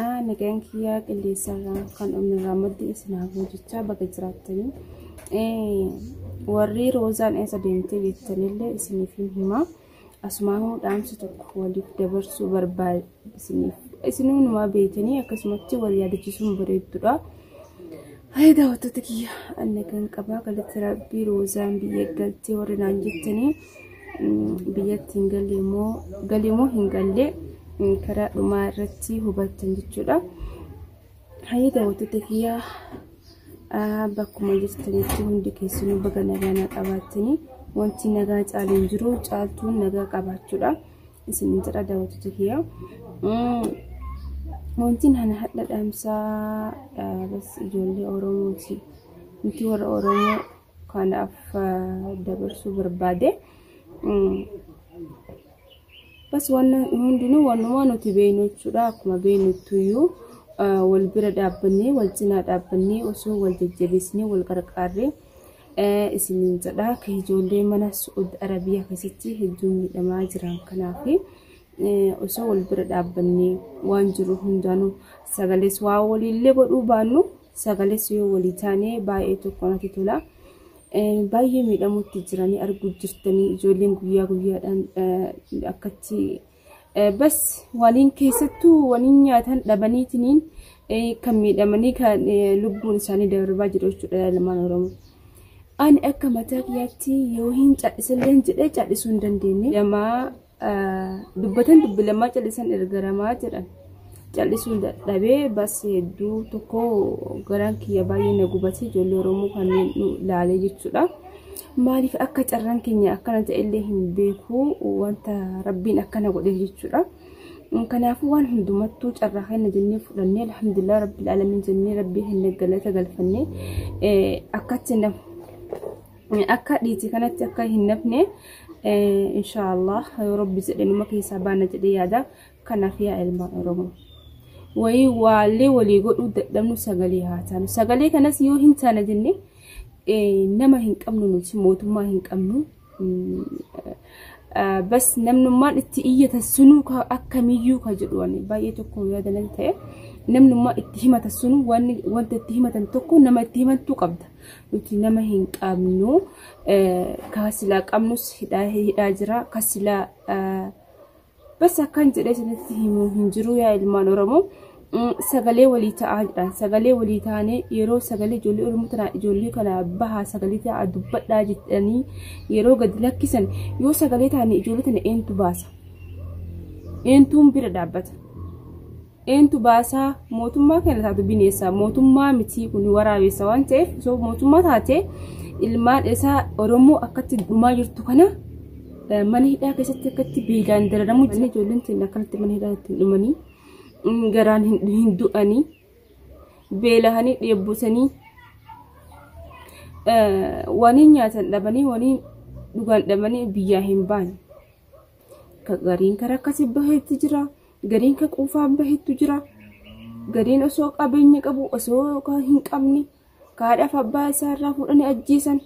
Aa nagaan kiyyaa qilleensarraa kan umirraa maddi isin haa ga'u jechaa baga jiraattanii. Eh, Warri roozaan eessa deemtee jettanillee isiniif hin himaa. Asumaanuu dhaamsa tokko waliif dabarsuu barbaade isiniif. Isinuu numaa beektanii akkasumatti wal yaadachiisuun bareeddudha. Hayi daawwattoota kiyya anna kan qabaa galatti rabbii roozaan biyya galtee warri naan jettanii. biyyatti hin galle immoo galee immoo hin galle karaa dhumaa irratti hubattan jechuudha. Hayyee daawwattoota kiyyaa bakkuma jirtanitti hundi keessanuu baga nagaa qabaattanii wanti nagaa caalee hin jiru caaltuun nagaa qabaachuudha. Isin jedha daawwattoota kiyyaa. Wanti nana hadha dhaamsaa ijoollee Oromooti. Nuti warra Oromoo kanaaf dabarsuu barbaade. Bas wanni hundinuu wanumaa nuti beeknu jechuudha. Akkuma beeknuttuyyuu wal bira dhaabbannee wal cinaa dhaabbannee osoo wal jajjabeessinee wal qarqaarree isiniin jedha. Kan ijoollee mana Su'ud Arabiyaa keessatti hedduun miidhamaa jiran kanaaf osoo wal bira dhaabbannee waan jiru hundaanuu sagalees waa waliillee godhuu baannu sagales yoo walii taane baay'ee tokko natti tola. Baay'ee miidhamutti jiranii arguu jirtanii ijoolleen guyyaa guyyaadhaan akkatti bas waliin keessattuu waliin nyaatan dhabaniitiniin kan miidhamanii kan lubbuun isaanii darbaa jiru jechuudha ilmaan Oromoo. Ani akka mataa kiyyaatti yoo hin cadhisilleen jedhee cadhisuu hin dandeenye. Jamaa dubbatan dubbi lamaa callisan ergaramaa jedhan callisuu dadhabee bas hedduu tokko garaan kiyya baay'ee na gubatee ijoollee oromoo kanneen nu laalee jechuudha. Maaliif akka carraan keenya akkana ta'ellee hin beeku wanta rabbiin akkana godhe jechuudha. Kanaafuu waan hundumattuu carraa kenna jennee fudhannee alhamdulillah rabbil alamin jennee rabbii kenna galata galfannee akkatti nama akka dhiiti kanatti akka hin nafne inshaallah yoo rabbi jedhe numa keessaa baana jedhee yaada kanaaf yaa ilmaan oromoo wayii waallee walii godhuu dadhabnu sagalee haa taanu sagalee kanas yoo hin taana jenne nama hin qabnu nuti mootummaa hin qabnu bas namnummaan itti iyyata sunuu akkamiyyuu ka jedhu baay'ee tokko yaadanan ta'e namnummaa itti himata sunuu wanta itti himatan tokko nama itti himantuu qabda nuti nama hin qabnu ka silaa qabnus hidhaa hidhaa jira ka silaa bas akkan jedhee isinitti himu hin jiru yaa ilmaan oromoo sagalee walii ta'aa jedhan sagalee walii taanee yeroo sagalee ijoollee oromoo tana ijoollee kana bahaa sagalee ta'aa dubbadhaa jedhanii yeroo gadi lakkisan yoo sagalee taane ijoollee tana eentu baasa eentuun bira dhaabbata Eentu baasaa mootummaa kana taatu bineessa mootummaa mitii kun waraabessa waan ta'eef osoo mootummaa taate ilmaan isaa Oromoo akkatti dhumaa jirtu kana eh, mana hidhaa keessatti akkatti beelaan dararamu jiran ijoolleen teenya akkanatti mana hidhaa ittiin dhumanii mm, garaan hin hin du'anii beelahanii dheebbuusanii eh, waniin nyaatan dhabanii waniin dhugaan dhabanii biyyaa hin baane. Ka- gariin karaa akkasii baheetti jira Gariin ka quufaan bahettu jira. Gariin osoo qabeenya qabu osoo ka hin qabne ka haadhaaf abbaa isaa irraa fuudhanii ajjeesan.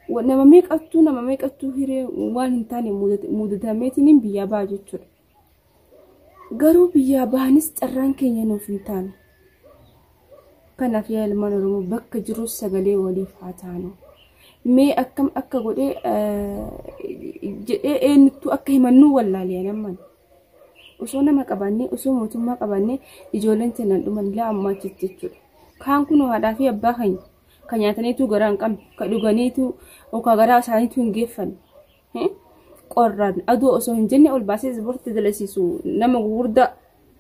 Wa- Nama meeqattuu nama meeqattuu hiree waan hin taane mudat- mudatameetiin biyyaa baha jechuudha. Garuu biyyaa bahanis carraan keenya nuuf hin taane. Kanaaf yaa ilmaan Oromoo bakka jirus sagalee waliif haa taanu. Mee akkam akka godhee eh, jedhee eenyuttuu akka himannuu wallaalee namman. osoo nama qabaannee osoo mootummaa qabaannee ijoolleen teenyaan dhuman ilaa ammaatti jechuudha. Kaan kunoo haadhaa fi abbaa keenya kan nyaataniitu garaa hin qabne kan dhuganiitu yookaan garaa isaaniitu hin geeffanne. Qorraan aduu osoo hin jenne ol baasee ispoortii dalasiisu nama gurguddaa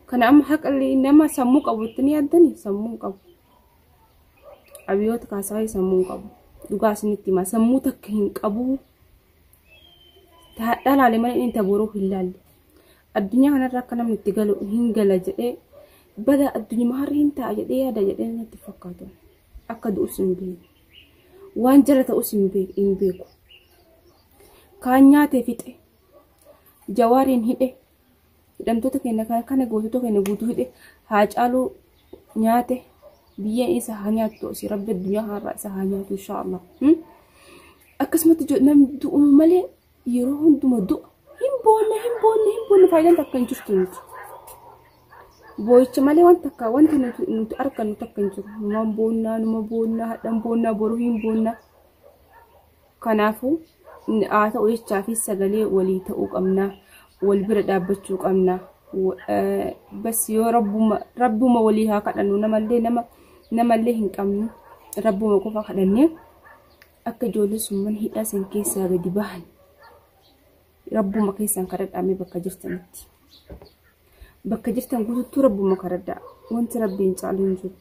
kana amma haqalli nama sammuu qabu itti ni yaaddani sammuu qabu. Abiyoota kaasaayee sammuu qabu. Dhugaa isinitti himaa sammuu takka hin qabu. Taadhaa laale malee inni tabooruu hin laalle. Addunyaa kanarra akka namni itti galu hin gala jedhee bada addunyaa harri hin ta'a jedhee yaada jedhee natti fakkaatu. Akka du'us hin beeku. Waan jala ta'us hin beeku. Hin beeku. Kaan nyaatee fixe. Jawaariin hidhe. hidhamtoota keenya kan kana gootota keenya guutuu hidhe haa caaluu nyaate biyyeen isa haa nyaattu osii rabbi addunyaa kanarraa isa haa nyaatu inshaa Allah. Akkasumatti jo- namni du'u malee yeroo hunduma du'a hin boonne hin boonne hin boonne faayidaan takka hin jirtu nuti. Boo'icha malee wanta takka wanta nuti nuti argannu takka hin jiru. Numaan boonnaa numa boonnaa hadhan boonnaa boruu hin boonnaa. Kanaafuu, haa ta'u jechaa fi sagalee walii ta'uu qabna. Wal bira dhaabbachuu qabna. Bas yoo rabbuma rabbuma walii haa kadhannu namallee nama namallee hin qabnu. Rabbuma qofa kadhannee akka ijoollee summan hidhaa san keessaa gadi bahan Rabbuma keessan kadhadhaa mee bakka jirtanitti. Bakka jirtan guutuutti rabbuma kadhadhaa. Wanti rabbiin caalu hin jiru.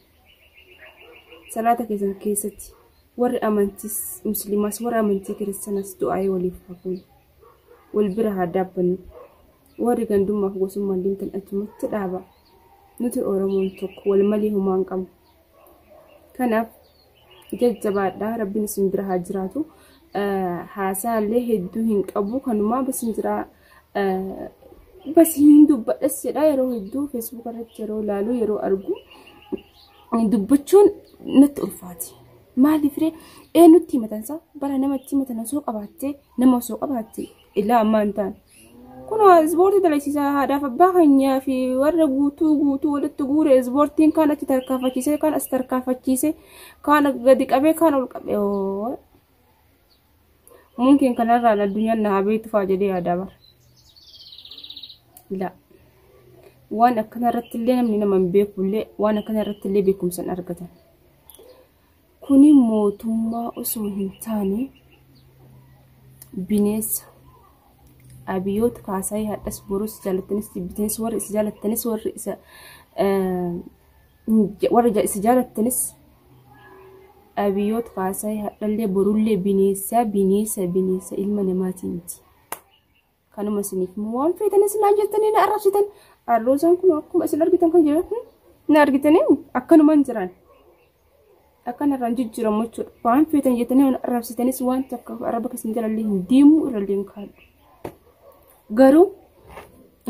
Salaata keessan keessatti warri amantiis musliimaas warri amantii kiristaanaas du'aa'ee waliif hafuun wal bira haa dhaabbannu. Warri gandummaaf gosummaan deemtan achumatti dhaaba. Nuti Oromoon tokko wal malee homaa hin qabnu. Kanaaf jajjabaadha rabbiin isin bira haa jiraatu haasaa illee hedduu hin qabu kanumaa basin jira basi hin dubbadhas jedha yeroo hedduu feesbuuk irratti yeroo ilaalu yeroo argu dubbachuun natti ulfaati maaliif ree eenyutti himatansa bara namatti himatan osoo qabaattee nama osoo qabaatte ilaa ammaa hin taane Kun ispoortii dalagsisa haadhaaf abbaa keenyaa fi warra guutuu guutuu walitti guure ispoortiin kaan achi tarkaanfachiisee kaan as tarkaanfachiisee kaan gadi qabee kaan ol qabee oo. Mumkin kanarraan addunyaan na haa beektu fa'aa jedhee yaadaa bara. Ilaa. Waan akkanarratti illee namni nama hin beeku illee waan akkanarratti illee beekumsa hin argatan. Kuni mootummaa osoo hin taane bineensa. Abiyoot Kaasaayii hadhas borus jaalattinis jibbitinis warri isa jaalattinis warri isa warri isa jaalattinis Abiyoot Kaasaayii hadhallee borullee bineensa bineensa bineensa ilma namaatii miti. Kanuma isiniif immoo waan feetan isin naan jettanii na arrabsitan. Arroosaan kun akkuma isin argitan kan jiran hmm? na argitanii akkanumaan jiran. Akkan irraan jijjiiramu jechuudha. Waan feetan jettanii na arrabsitanis waan takka arraba keessan jalallee hin deemu irrallee hin kaa'u. Garuu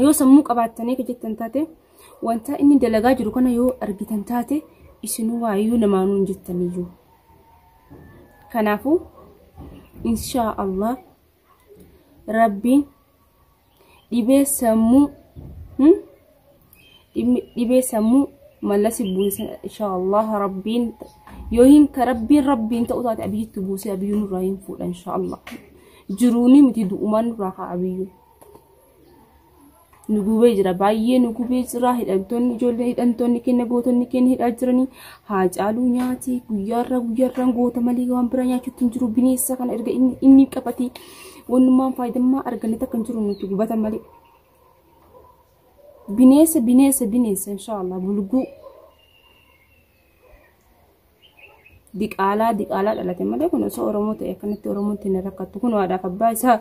yoo sammuu qabaattanii kan jettan taate wanta inni dalagaa jiru kana yoo argitan taate isinuu waayyuu namaanuu hin jettaniyyuu. Kanaafuu inshaa Allah Rabbiin dhibee sammuu hmm? Dhimmi- dhibee sammuu mallasi buusa inshaallah rabbiin yoo hin ka rabbiin rabbiin ta'uu taate abiyyitti buusee abiyyuu nurraa hin fuudha inshaallah jiruuni miti du'umaan nurraa kaa abiyyuu nu gubee jira baay'ee nu gubee jira hidhamtoonni ijoollee hidhamtoonni keenya gootonni keenya hidhaa jiranii haa caaluu nyaati guyyaarraa guyyaarraan goota malee waan biraa nyaachuutti hin jiru bineensa kana erga inni inni qabate wannummaan faayidammaa arganne takka hin jiru nuti gubata malee. Bineensa bineensa bineensa inshaallah bulguu. diqaalaa diqaalaa dhalate malee kun osoo oromoo ta'e akkanatti oromoon ittiin rakkattu kun haadhaaf abbaa isaa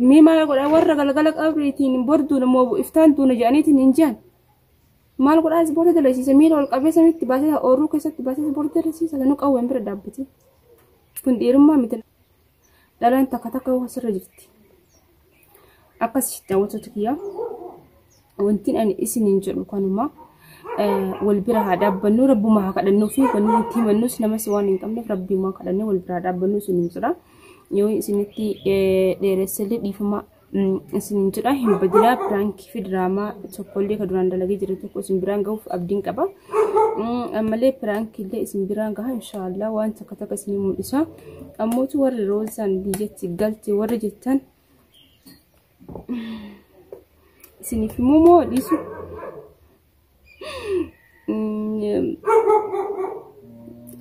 mee maal godha warra galgala qabriitiin borduun immoo iftaan duuna jedhaniitiin hin jiran maal godhaa ispoortii dalagsiisa miila ol qabeessa mitti baasisa oorruu keessatti baasisa ispoortii dalagsiisa sanuu qawween bira dhaabbate kun dhiirummaa miti Dhalaan takka takka waan sirra jirti. Akkas daawwattoota kiyyaa wanti ani isiniin jedhu kanuma wal bira haa dhaabbannu rabbuma haa kadhannuu fi wanni itti himannus namas waan hin qabneef rabbiuma kadhannee wal bira haa dhaabbannu isiniin jedha. Yoo isinitti dheeressellee dhiifama isinin jedha hin badinaa piraankii fi diraamaa tokkollee ka duraan dalagee jira tokko isin biraan gahuuf abdiin qaba ammallee piraankiillee isin biraan gaha inshaallah waan takka takka isin mul'isa ammootu warri roozaan biyyatti galte warri jettan isiniif immoo moo dhiisu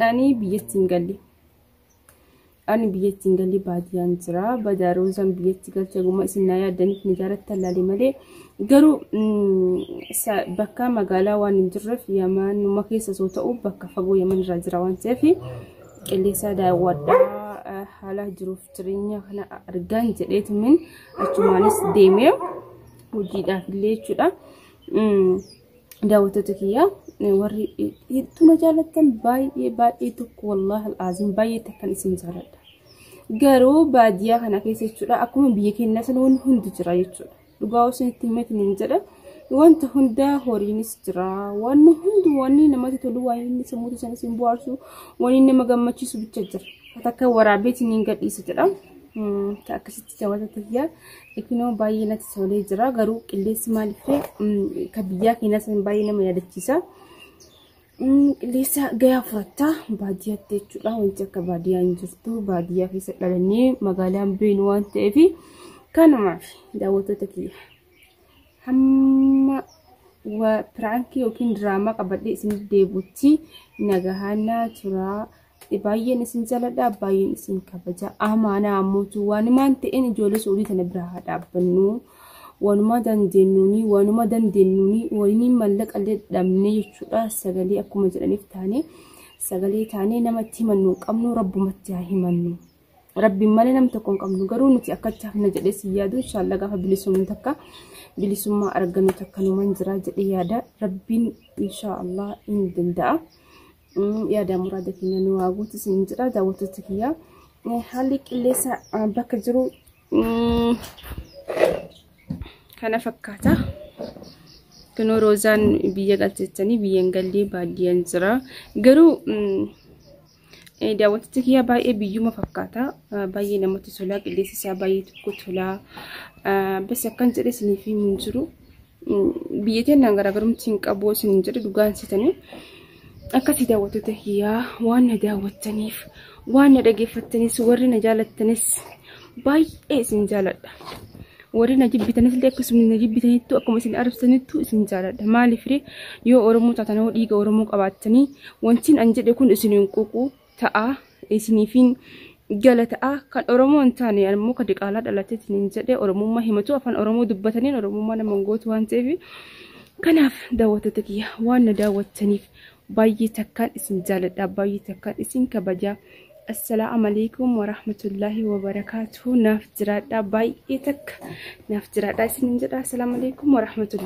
ani biyyatti hin galle Ani biyyatti hin galli baadiyyaan jira. Badaa roozaan biyyatti galcha guma isin na yaaddaniif na jaalatti allaalee malee. Garuu bakka magaalaa waan hin jirreef yamanuma keessa soo ta'u bakka fagoo yaman irraa jira waan ta'eef qilleensaa daawwadhaa haala jiruuf jireenya kana argaan jedheetumin achumaanis deemee hojiidhaaf illee jechuudha. daawwattoota kiyyaa warri hedduu na jaallattan baay'ee baay'ee tokko wallaahi al'aaziin baay'ee takkan isin jaalladha. Garuu baadiyyaa kana keessa jechuudha akkuma biyya keenyaa sana wanti hundi jira jechuudha. Dhugaa osoo itti himatin hin jedha. Wanta hundaa horiinis jira. Wanni hundi wanni namatti tolu waan inni sammuu isaaniis hin bohaarsu wanni nama gammachiisu bicha jira. Takka waraabeetiin hin gadhiisa jedha. Akkasitti. Jawata tiyya ikinoo baay'ee natti tolee jira garuu qilleensi maaliif ka biyyaa keenyas baay'ee nama yaadachiisa. Qilleensa gayaa furatta baadiyyaatti jechuudha wanti akka baadiyyaa hin jirtu baadiyyaa keessa dhalannee magaalaan beenu waan ta'eef kanumaaf daawwattoota kiyya hamma piraankii yookiin diraamaa qabadhee isin deebutti nagahaannaa turaa. baay'een isin jaladha baay'een isin kabaja amaanaa ammuutu waanumaan ta'een ijoollee suudii tana bira haa dhaabbannu waanuma dandeenyuuni waanuma dandeenyuuni waliin mallaqa illee dhabnee jechuudha sagalee akkuma jedhaniif taane sagalee taanee namatti himannu hin qabnu rabbumatti haa himannu rabbiin malee nam tokko hin qabnu garuu nuti akkatti hafna jedhee si yaadu inshaallah gaafa bilisummaa takka bilisummaa argannu takka numan jira jedhee yaada rabbiin inshaallah hin danda'a. yaada muraada keenya nu haa guutu isin jedha daawwattoota kiyya haalli qilleensa bakka jiru kana fakkaata. Kunoo roozaan biyya galchachanii biyyan gallee baadiyyan jira. Garuu daawwattoota kiyya baay'ee biyyuma fakkaata. Baay'ee namatti tola. Qilleensi isaa baay'ee tokko tola. Bas akkan jedhe isiniif himu hin jiru. Biyya teenyaan garaagarumti hin qabu isin hin jedhu dhugaan sitanii akkasii daawwattoota kiyyaa waan na daawwattaniif waan na dhageeffattanis warri na jaalattanis baay'ee isin jaaladha. Warri na jibbitanis illee akkasuma na jibbitanittu akkuma isin arabsanittu isin jaaladha. Maaliif yoo Oromoo taatan yoo dhiiga Oromoo qabaattanii wantiin an jedhe kun isin hin quuqu ta'a isiniifin gala ta'a kan oromoo hin taane ammoo ka diqaalaa dhalatee isiniin jedhe oromummaa himatu afaan oromoo dubbataniin oromummaa nama hin gootu waan ta'eef kanaaf daawwattoota kiyya waan na daawwattaniif baay'ee takkaan isin jaaladha baay'ee takkaan isin kabajaa assalaamu alaikum warahmatullaahi wabarakaatuhu naaf jiraadha baay'ee takka naaf jiraadha isiniin jedha assalaamu alaikum warahmatullaahi